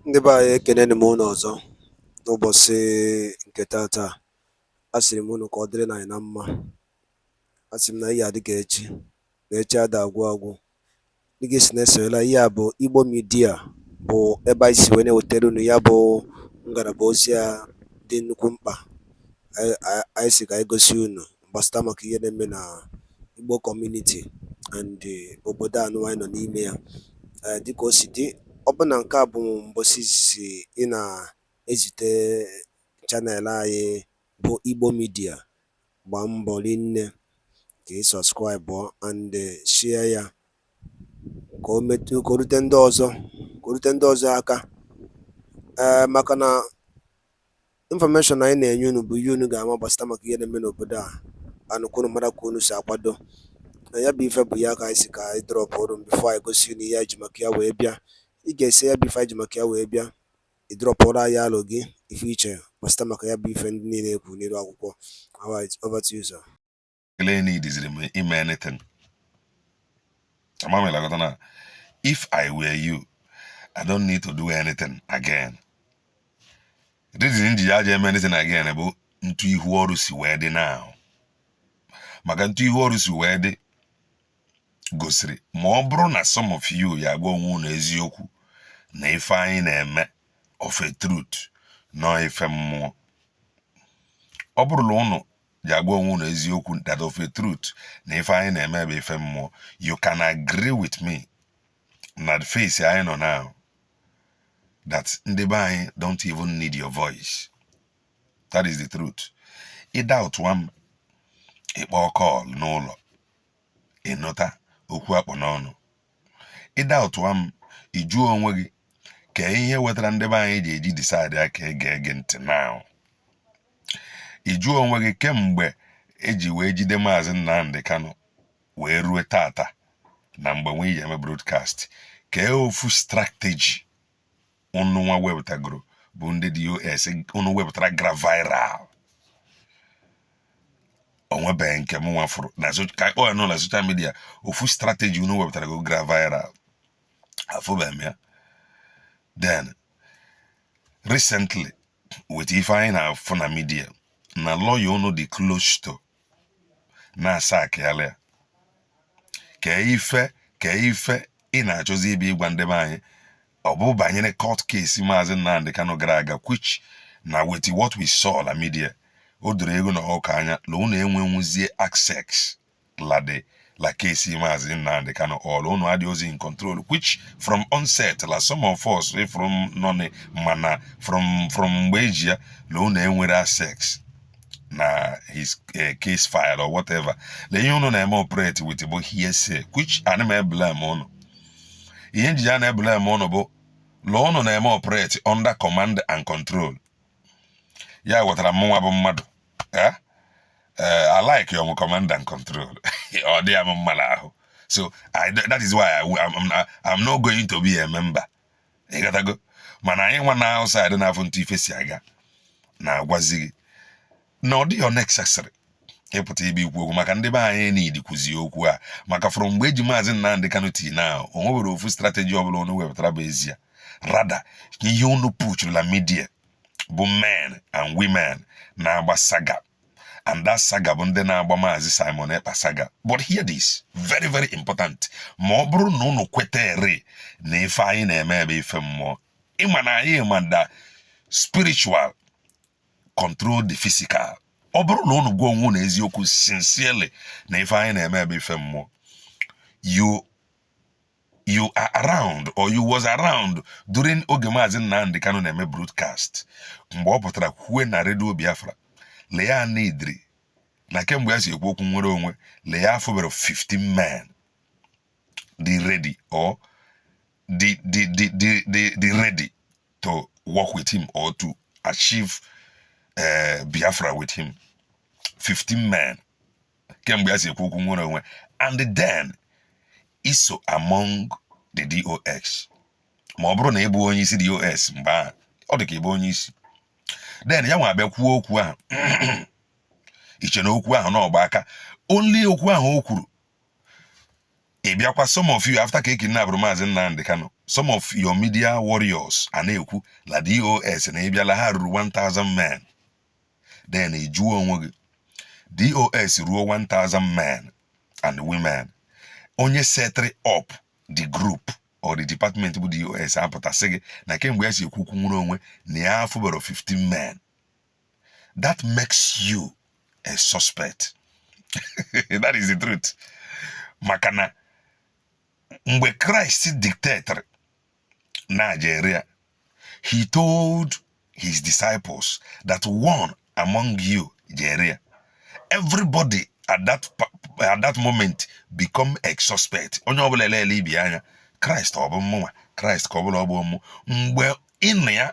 Ndị be anyị ekeneni m unu ọzọ n'ụbọchị nke taata. Asịrị m unu ka ọ dịrị na anyị na mma. Asị m na ihe adị ka echi na echi ada agwụ agwụ. Dịka i si na-esonyela ihe a bụ Igbo midia bụ ebe anyị si wee na-ewetara unu ya bụ ngalaba ozi a dị nnukwu mkpa anyị sị ka anyị gosi unu gbasata maka ihe na-eme na Igbo kọmuniti and eh, obodo a nụwa anyị nọ n'ime ya eh, dịka o si dị ọ bụ na nke a bụ mbọsị izizi ị na-ezite chanel anyị bụ Igbo midia gbaa mbọ rinne ka ị sọskraịbụ and eh, share ya ka o metụ ka o rute ndị ọzọ ka o rute ndị ọzọ aka ee maka na Infọmeshọn anyị na-enye unu bụ ihe unu ga-ama gbasịta maka ihe na-eme n'obodo a anụ ka unu mara ka unu si akwado na ya bụ ife bụ ya ka anyị sị ka anyị drọpụọrụ unu bifo anyị gosi unu ihe anyị ji maka ya wee bịa i gesịa ya bụ ife anyị ji maka ya wee bịa ị drọpụọrụ anyị alo gị ife i che gbasịta maka ya bụ ife ndị niile ekwu n'iru akwụkwọ alright over to you sir Kele need is me ime anything. Amami lagatana. If I were you, I don't need to do anything again. Reason ji ya eme anything again bụ ntu ihu ọrụ si wee dị now. Maka ntu ihu ọrụ si wee dị gosiri ma ọ bụrụ na some of you ya-agwa onwe unu eziokwu na ife anyị na-eme of a truth na ọ ife mmụọ ọ bụrụ la unu ji agwa onwe unu eziokwu that of a truth na ife anyị na-eme bụ ife mmụọ you can agree with me na the phase anyị nọ now that ndị be anyị don't even need your voice that is the truth ị doubtụwa m ị kpọọ kọl n'ụlọ ị nụta okwu a kpụ n'ọnụ ị doubtụwa m ị jụọ onwe gị kee ihe wetara ndị be anyị ji eji disaịdị aka ege gị ntị now ị jụọ onwe gị kemgbe e ji wee jide maazị Nnamdi Kanu wee rue tata na mgbe nwe iji eme broadcast kee ofu strateji unu nwa wepụtagoro bụ ndị DOS unu wepụtara gara viral o nwebe nke mụ nwa fụrụ na ka ọ nọ na soshal midia ofu strateji unu wepụtarago gara viral afụbe m ya then recently with ife anyị na-afụ na midia na lọya unu dị close to na a sackịala ya kee ife kee ife ị na-achọzi ibe ịgwa ndị be anyị ọ bụ banyere court case maazị Nnamdi Kanu gara aga which na with what we saw na media o doro eghu na ọkụkọ anya na unu enwenwuzie access lade la case Mazi Nnamdi Kanu all unu adịrọzi in control which from onset la some of us eh, from nọnị mana from from mgbe eji ya na unu enwerọ access na his eh, case file or whatever na ihe unu na-eme operate with bụ hearsay which ana m eblame unu ihe nji ya na-eblame unu bụ na unu na-eme operate under command and control ya wetara mụnwa bụ mmadụ eh? Eh, alikerọ m command and control ọ dịrọ m mma n'ahụ so that is why I'm not going to be a member ị ghọtago mana anyị nwa na outside na-afụ etu ife si aga na-agwazi gị na ọ dịghị necessary ịpụta ebe ikwu okwu maka ndị be anyị need kụzi okwu a maka from mgbe eji maazị Nnamdị Kanu till now o nweberọ ofu strategy ọbụla unu wepụtara bụ ezie rather ihe unu pushuru na media bụ men and women na-agba saga and that saga bụ ndị na-agba maazị Simon Ekpa saga but hear this very very important ma ọ bụrụ na unu kwetere na ife anyị na-eme bụ ife mmụọ ị ma na anyị ma the spiritual control the physical ọ bụrụ na unu gwa onwe unu eziokwu sincerely na ife anyị na-eme bụ ife mmụọ you you are around or you was around during oge maazị Nnamdi Kanu na-eme broadcast mgbe ọ pụtara kwue na redio Biafra la ya needịrị na kemgbe ya si ekwu okwu nnwere onwe la ya afụberọ 15 men dị ready or dị dị dị dị dị ready to work with him or to achieve uh, Biafra with him 15 men kemgbe ya si ekwu okwu nnwere onwe and then i so among the DOS ma ọ bụrụ na ị bụ onye isi DOS mgbe ahụ ọ dị ka ịbụ onye isi then ya nwa abịa kwuo okwu ahụ i che na okwu ahụ na ọ gba aka only okwu ahụ o kwuru ị bịakwa some of you after ka ekidnapụrụ maazị Nnamdị Kanu some of your media warriors a na-ekwu la DOS na ịbịala ha ruru 1000 men then ị jụọ onwe gị dos ruo 1000 men and women onye setịrị up the group or the department bụ dos apụta sị gị na kemgbe ya si ekwu okwu nnwere onwe na ya afụberọ 15 men that makes you a suspect that is the truth maka na mgbe Christ detectịrị onye ji ere ya. He told his disciples that one among you ji ere ya, everybody at that at that moment become a suspect. Onye ọbụla elele ibe ya anya Christ ọ bụ mụnwa Christ ka ọ bụ la ọ bụ mụ mgbe ịnụ ya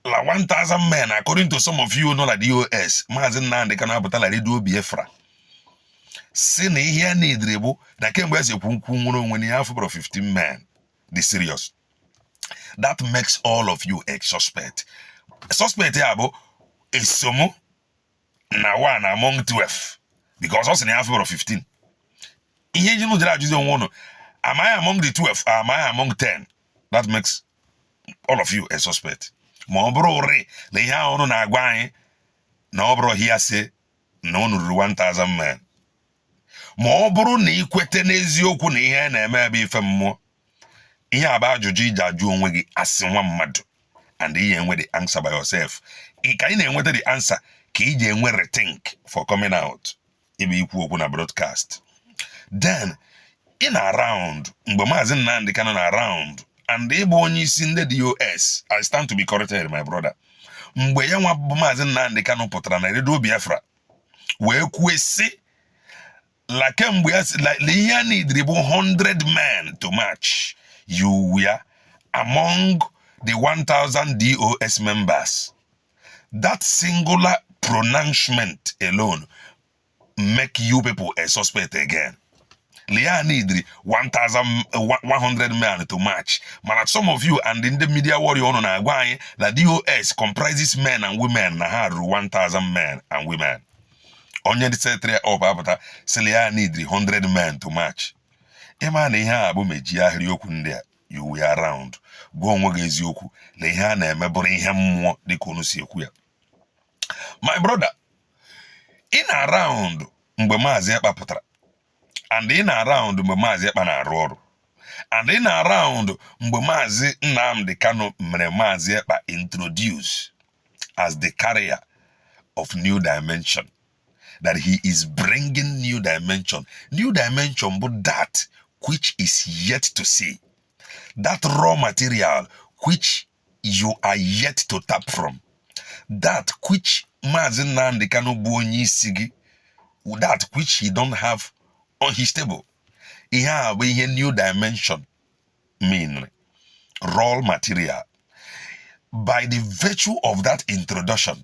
la 1000 men according to some of you nọ na DOS maazị Nnamdi Kanu apụta la redio Biafra sị na ihe ya needri bụ na kemgbe e si ekwu okwu nnwere onwe na ya afụbero 15 men dị serious that makes all of you a suspect suspect ya bụ eso mụ na one among 12 because ọ sị na ya afụbero 15 ihe ji jere ajụzi onwe ụnụ am I among the 12 am I among 10 that makes all of you a suspect ma ọ bụrụrị na ihe ahụ ụnụ na-agwa anyị na ọ bụrọ hearsay na unu ruru 1000 men ma ọ bụrụ na ị kweta n'eziokwu na ihe a na-eme bụ ife mmụọ ihe a bụ ajụjụ ị ji ajụ onwe gị as nwa mmadụ and ị ya-enwe the answer by yourself ka ị na-enweta the answer ka ị ji enwe rethink for coming out ịbịa ikwu okwu na broadcast then ị nọ around mgbe maazị Nnamdi Kanu nọ around and ị bụ onye isi ndị DOS I stand to be corrected my brother mgbe ya nwa bụ maazị Nnamdi Kanu pụtara na redio Biafra wee kwue sị la kemgbe ya sị la ihe ya needri bụ 100 men to march you were among the 1000 DOS members that singular pronouncement alone make you people a suspect again la ihe ya needri 100 men to march mana some of you and ndị media warrior ụnụ na-agwa anyị na DOS comprises men and women na ha ruru 1,000 men and women onye ndị setri up apụta sị la ihe ya needri 100 men to march ị ma na ihe a bụ meji ahịrị okwu ndị a you were around gwa onwe gị eziokwu na ihe a na-eme bụrụ ihe mmụọ dịka unu si ekwu ya my brother ị nọ around mgbe maazị Ekpa pụtara and ị nọ around mgbe maazị Ekpa na-arụ ọrụ and ị nọ around mgbe maazị Nnamdi Kanu mere maazị Ekpa introduce as the carrier of new dimension that he is bringing new dimension new dimension bụ that which is yet to see that raw material which you are yet to tap from that which Maazị Nnamdi Kanu bụ onye isi gị that which he don't have on his table ihe a bụ ihe new dimension mean raw material by the virtue of that introduction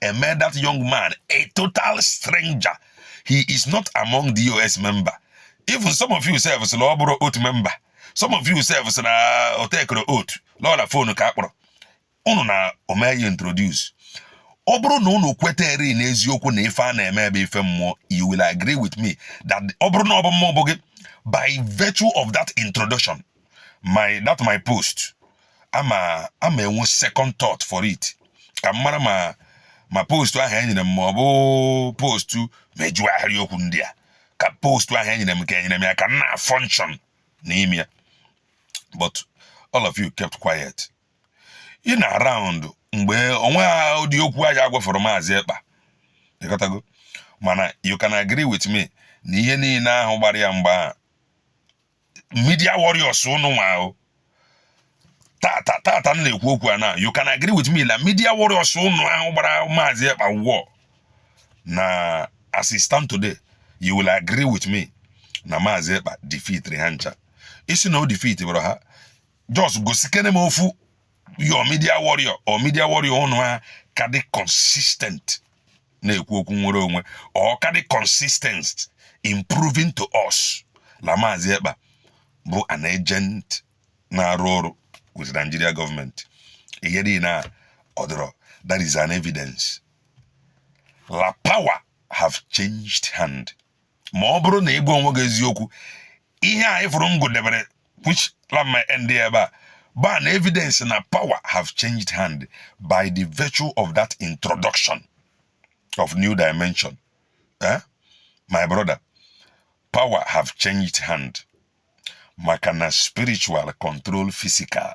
e mee that young man a total stranger he is not among DOS member even some of you sef sị na ọ bụrọ oath member some of you sef sị na o takerọ oath l'ọ la fonu ka a kpọrọ unu na o mee ya introduce ọ bụrụ na unu kwetere n'eziokwu na ife a na-eme bụ ife mmụọ you will agree with me that ọ bụrụ na ọ bụ mụ bụ gị by virtue of that introduction my that my post ama ama enwe second thought for it ka m mara ma ma postu ahụ e nyere m ma ọ bụ postu mejuo ahịrị okwu ndị a ka postu ahụ e nyere m ka e nyere m ya ka m na-function n'ime ya but all of you kept quiet ị nọ around mgbe o nwehọ ụdị okwu aja agwafọrọ Maazị Ekpa ị ghọtago mana you can agree with me na ihe niile ahụ gbara ya mgba ahụ media warriors ụnụ nwa ahụ tata tata m na-ekwu okwu a na you can agree with me na media warriors ụnụ ahụ gbara Maazị Ekpa war na as it stand today you will agree with me na Maazị Ekpa defeatiri ha ncha ị sị na o defeatiberọ ha just gosikene m ofu your media warrior or media warrior ụnụ ahụ ka dị consistent na-ekwu okwu nwere onwe or ka dị consistent in proving to us na Maazị Ekpa bụ an agent na-arụ ọrụ with Nigeria government ihe dị na ọ dịrọ that is an evidence la power have changed hand ma ọ bụrụ na ị gwa onwe gị eziokwu ihe a ị fụrụ m gụdebere which la m ma-end ebe a bụ an evidence na power have changed hand by the virtue of that introduction of new dimension eh? my brother power have changed hand maka na spiritual control physical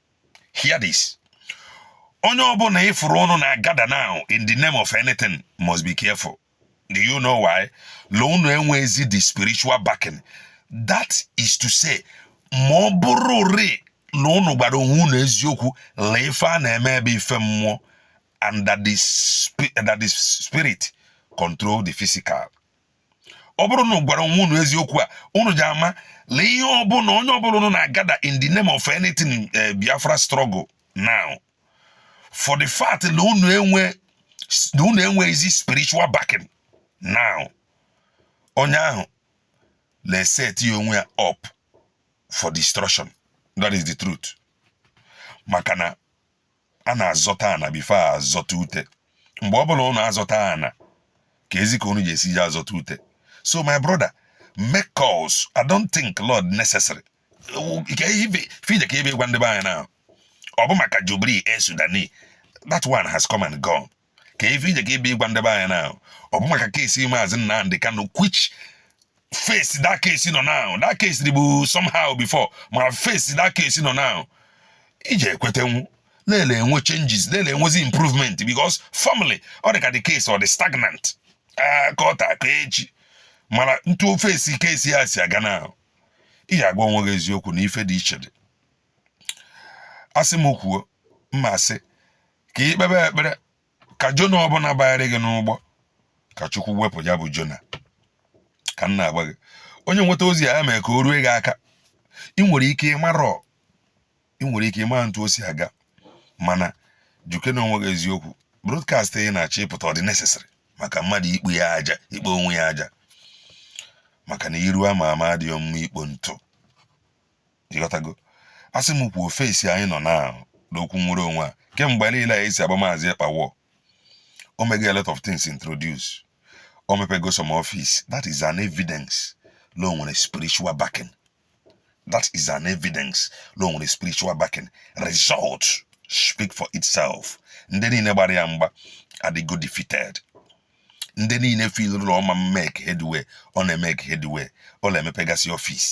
hear this onye ọbụla ị fụrụ ụnụ na-agather now in the name of anything must be careful do you know why la unu enweghịzi the spiritual backing that is to say ma ọ bụrụ ri na ụnụ gwara onwe unu eziokwu la ife a na-eme bụ ife mmụọ and that the, spirit control the physical ọ bụrụ na unu gwara onwe unu eziokwu a unu ja-ama la ihe ọbụla onye ọbụla unu na-agather in the name of anything eh, Biafra struggle now for the fact na unu enwe na unu enweghịzi spiritual backing now onye ahụ na-eseti onwe ya up for destruction that is the truth maka na a na-azọta ana before a zọta ute mgbe ọ bụla ụnụ azọta ana keezi ka ụnụ ga-esi ji azọta ute so my brother make calls i don't think la ọ dị necessary fide ka ebe gwa ndị be anyị na ọ bụ maka Jubril Al Sudani that one has come and gone ka ife ije ka ibe ịgwa ndị be anyị na ọ bụ maka case Maazị Nnamdi Kanu which phase that case nọ now that case bụ somehow before ma phase that case nọ now ị je-ekwetenwu na-ele enwe changes na-ele enwezi improvement because formerly ọ dị ka the case ọ dị stagnant ah, ka ọ ta ka echi mana ntu phase case ya si aga now ị ja-agwa onwe gị eziokwu na ife dị iche dị a sị m kwuo mma asị ka ị kpebe ekpere ka Jona ọbụla banyere gị n'ụgbọ ka Chukwu wepụ ya bụ Jona ka m na-agwa gị onye nweta ozi a mee ka o rue gị aka ị nwere ike ịmarọ ị nwere ike ịma ntu o si aga mana jụkene onwe gị eziokwu broadcast ị na-achọ ịpụta ọ dị necessary maka mmadụ ikpo ya aja ikpo onwe ya aja maka na iru ama ama adịghị mma ikpo ntụ ịghọtago a sị m kwuo phase anyị nọ now n'okwu nwere onwe a kemgbe niile anyị si agba Maazị Ekpa war o mego a lot of things introduce o mepego some office that is an evidence la o nwere spiritual backing that is an evidence la o nwere spiritual backing result speak for itself ndị niile gbara ya mgba adịgo defeated ndị niile feel la ọ ma make headway ọ na-emake headway ọ na-emepegasị office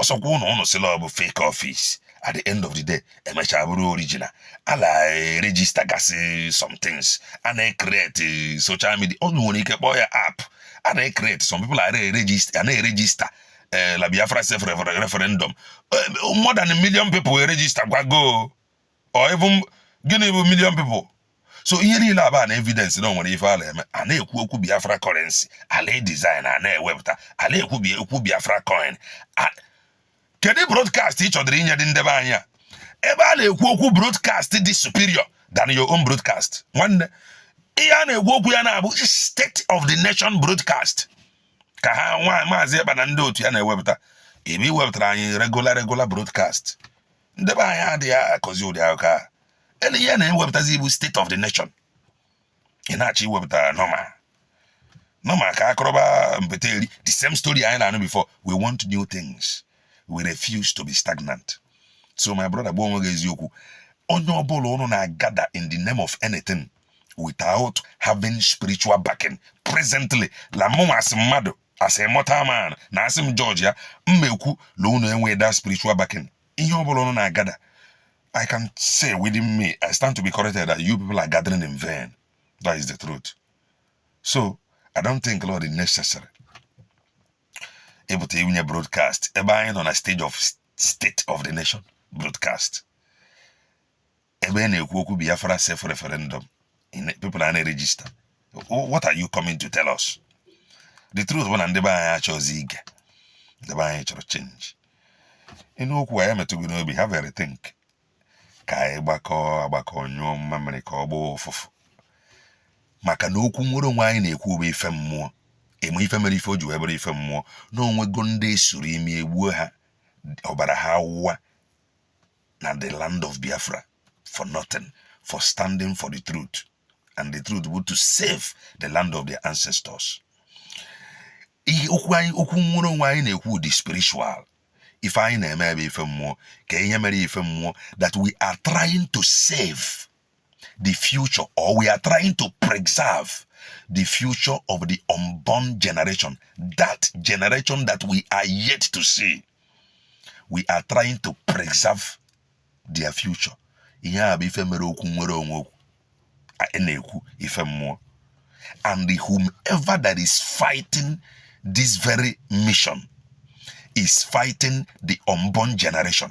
ọsọkwa ụnụ ụnụ sị la ọ bụ fake office at the end of the day e mechaa bụrụ original a na-eregister gasị some things a na-ecreate social media ọ nwere ike kpọọ ya app a na-ecreate some people a na-eregister eh, la Biafra self referendum eh, more than a million people eregisterkwago or even gịnị bụ million people so ihe niile a bụ an evidence na o nwere ife a na-eme a na-ekwu okwu Biafra currency a la-edesign a na-ewepụta a na-ekwu okwu Biafra coin kedu broadcast ị chọdịrị inyedị ndị be anyị ebe a na-ekwu okwu broadcast dị superior than your own broadcast nwanne ihe a na-ekwu okwu ya now bụ state of the nation broadcast ka ha nwa Maazị Ekpa na ndị otu ya na-ewepụta ebe iwepụtara anyị regular regular broadcast ndị be anyị adịghị akọzi ụdị akụkọ a ele ihe a na-ewepụtazi bụ state of the nation ị na-achọ iwepụta normal normal ka a kọrọba mpete eri the same story anyị na-anụ before we want new things we refuse to be stagnant so my brother gwa onwe gị eziokwu onye ọbụla ụnụ na-agather in the name of anything without having spiritual backing presently la mụnwa as mmadụ as a mortal man na a sị m judge ya mma ekwu la unu enweghị that spiritual backing ihe ọ bụla unu na-agather I can say within me I stand to be corrected that you people are gathering in vain that is the truth so I don't think la ọ dị necessary ịpụta inye broadcast ebe anyị nọ na stage of state of the nation broadcast ebe na-ekwu okwu Biafra self referendum people a na-register what are you coming to tell us the truth bụ na ndị be anyị achọzi ige ndị be anyị chọrọ change ị nụ okwu anyị emetụ gị n'obi have a rethink ka anyị gbakọọ agbakọ nyụọ mmamịrị ka ọ gbaa ụfụfụ maka na okwu nnwere onwe anyị na-ekwu bụ ife mmụọ eme ife mere ife o ji wee bụrụ ife mmụọ na o nwego ndị esoro ime egbuo ha ọbara ha wụwa na the land of biafra for nothing for standing for the truth and the truth bụ to save the land of their ancestors okwu nnwere onwe anyị na-ekwu dị spiritual ife anyị na-eme bụ ife mmụọ kee ihe mere ya ife mmụọ that we are trying to save the future or we are trying to preserve the future of the unborn generation, that generation that we are yet to see. We are trying to preserve their future. ihe a bụ ife mere okwu nnwere onwe okwu a na-ekwu ife mmụọ and whomever that is fighting this very mission is fighting the unborn generation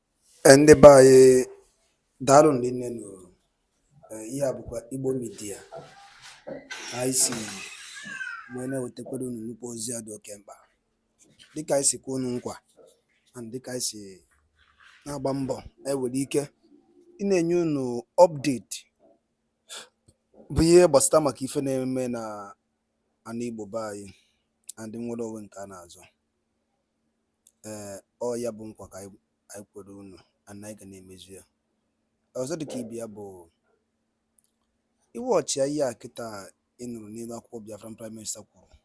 Eh, ndị be anyị daalụ rinne nụ eh, ihe a bụkwa Igbo Media anyị si wee na-ewetakwara unu nnukwu ozi a dị oke mkpa dịka anyị si kwe unu nkwa and dịka anyị si na-agba mbọ anyị nwere ike ịna-enye unu update bụ ihe gbasata maka ife na-eme na ana Igbo be anyị and nnwere onwe nke a na-azọ ee ọ ya bụ nkwa ka anyị kwere unu and anyị ga na-emezu ya ọzọ dịka ibe ya bụ ị watchịa ihe a kịta ị nụrụ n'elu akwụkwọ Biafran Prime Minister kwuru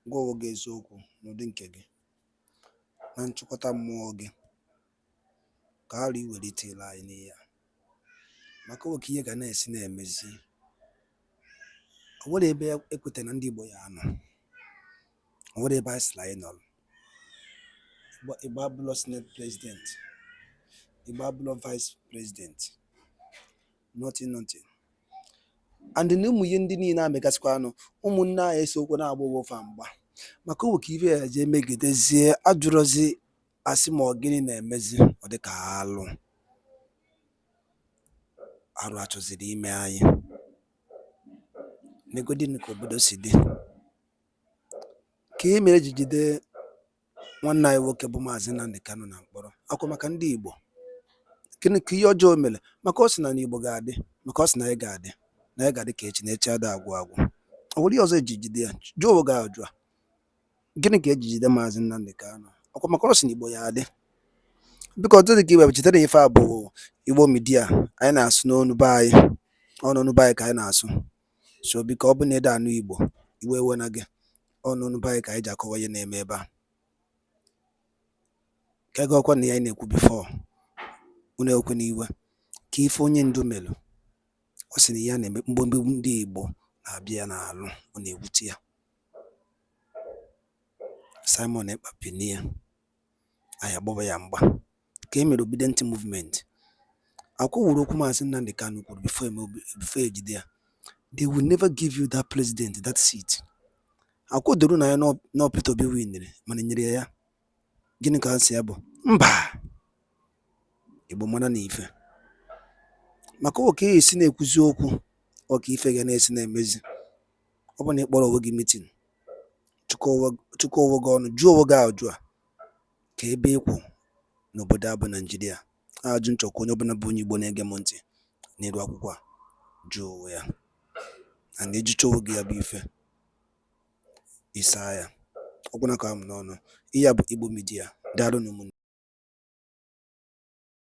gwa onwe gị eziokwu n'ụdị nke gị na nchịkọta mmụọ gị ka anyị welite ile anyị n'ihe a maka o nwe ka ihe ga na-esi na-emezi o nwere ebe e kweta na ndị Igbo ya-anọ o nwere ebe a sịrị anyị nọrọ Igbo abụlọ senate president Igbo abụlọ vice president nothing nothing and na ụmụ ihe ndị niile na-emegasịkwanụ ụmụnne anyị esokwa na-agba ọgbọ fa mgba maka o nwe ka ife ya-eji emegidezie a jụrụzi a sị ma ọ gịnị na-emezi ọ dị ka alụ arụ a chọziri ime anyị negodinụ ka obodo si dị kee ihe mere e ji jide nwanne anyị nwoke bụ maazị Nnamdi Kanu na mkpọrọ ọ kwa maka ndị Igbo gịnị ka ihe ọjọọ o mere maka ọ sị na Igbo ga-adị maka ọ sị na anyị ga-adị na anyị ga-adị ka echi na echi ada agwụ agwụ o nwere ihe ọzọ e ji jide ya jụọ onwe gị ajụ a Gịnị ka eji jide Maazị Nnamdi Kanu? Ọkwa maka na ọ sị na Igbo ya adị. Biko ọ dịghị ka iwe cheta na ife a bụ Igbo Media anyị na-asụ n'onu be anyị ọ n'onu be anyị ka anyị na-asụ so biko ọ bụ na ị da-anụ Igbo iwe ewena gị ọ n'onu be anyị ka anyị ji akọwa ihe na-eme ebe a ka ego ọkwa na ya anyị na-ekwu before unu ekwe n'iwe ka ife onye ndu melụ ọ sị na ya na-eme mgbomgbo ndị Igbo na-abịa ya n'alụ ọ na-ewute ya Simon Ekpa binie anyị agbaba ya mgba ka e mere Obidient Movement ọkwa ọ wụrụ okwu Maazị Nnamdi Kanu kwuru before ejide ya they will never give you that president that seat ọkwa o doro unu anya na Peter Obi winere mana e nyere ya ya gịnị ka asịsa ya bụ mba igbo mara na ife maka oke esi na-ekwuzi okwu ọka ife ga na-esi na-emezi ọ bụ na ị kpọrọ onwe gị meeting chịkọ onwe gị ọnụ jụọ onwe gị ajụ a kee ebe ị kwụ n'obodo a bụ naijiria ajụ m chọ ka onye ọbụla bụ onye igbo na-ege m ntị n'iru akwụkwọ a jụọ onwe ya na ị jụchaa onwe gị ya bụ ife Ị saa ya ọ gwụna ka ọ ha m n'ọnụ. Ihe a bụ Igbo Media. Daalụ nụ ụmụnne.